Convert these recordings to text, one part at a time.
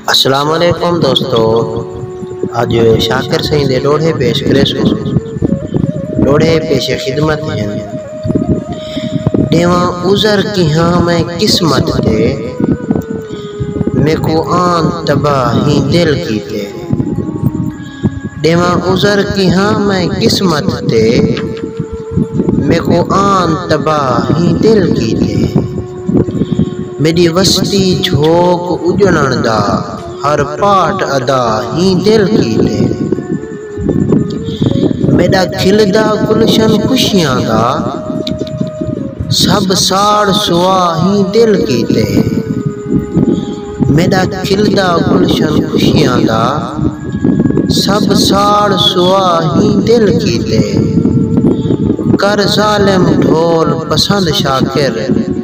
السلام علیکم دوستو اج شاکر سائیں دے لوڑھے پیش کرے سو لوڑھے پیش خدمت ہیں دیواں عذر کی ہاں میں قسمت تے میکو آن تباہ ہی دل کی تے دیواں عذر کی ہاں میں قسمت تے میکو آن تباہ ہی دل کی تے میݙی وستی جھوک اڄݨݨ دا ہر پاٹ ادا ہیں دل کیتے میݙا کھلدا گلشن خوشیاں دا سب ساڑ سوا ہیں دل کیتے۔ میݙا کھلدا گلشن خوشیاں دا سب ساڑ سوا ہیں دل کیتے کر ظالم ڈھول پسند شاکر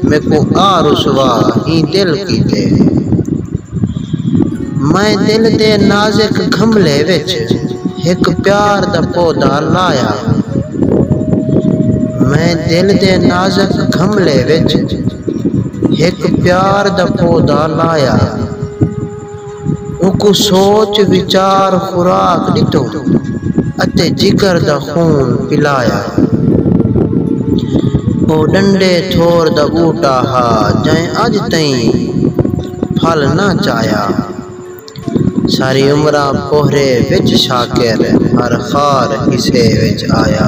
میکوں آ رسوا ہیں دل کیتے میں دل دے نازک گھملے وچ ہک پیار دا پودا لایا میں دل دے نازک گھملے وچ ہک پیار دا پودا لایا۔ اوکوں سوچ وچار خوراک ݙتو اتے جگر دا خون پلایا۔ او ݙنڈے تھور دا ٻوٹا ہا جئیں اڄ تئیں پھل نہ چایا۔ ساری عمراں پوہرے وچ شاکر ہر خار حصے وچ آیا۔